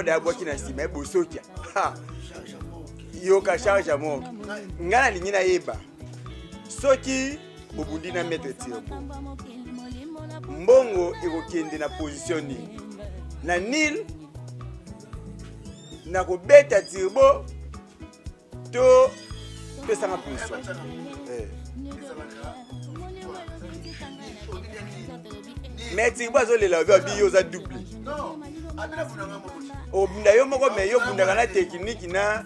nde abwaki na nsima ye bosokia yoka charge ya moko ngai nalingi nayeba soki bobundi na maître tirbo mbongo ekokende na position nini na nil na kobeta tirbo to pesanga position eh. mais tirbo azolela obi abi yo oza double obunda yo moko me yo obundaka na tekiniki na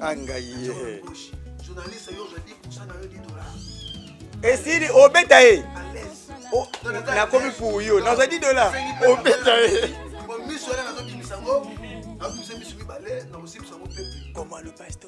angaye esili obeta ye nakomi pour yo nazwa 10 dollars obeta ye comment le pasteur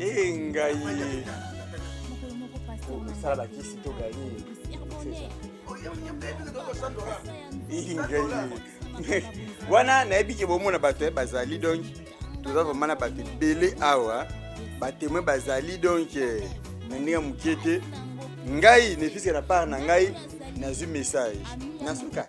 Ee ngai mokolo moko pasteur na osala bakisi to gani Ee, ngai wana nayebi ke bomona bato eh, bazali donc toza vraimen na bato ebele awa batemoin bazali donc eh, na ndenge ya moke te ngai nefiske na part na ngai nazwi message nasuka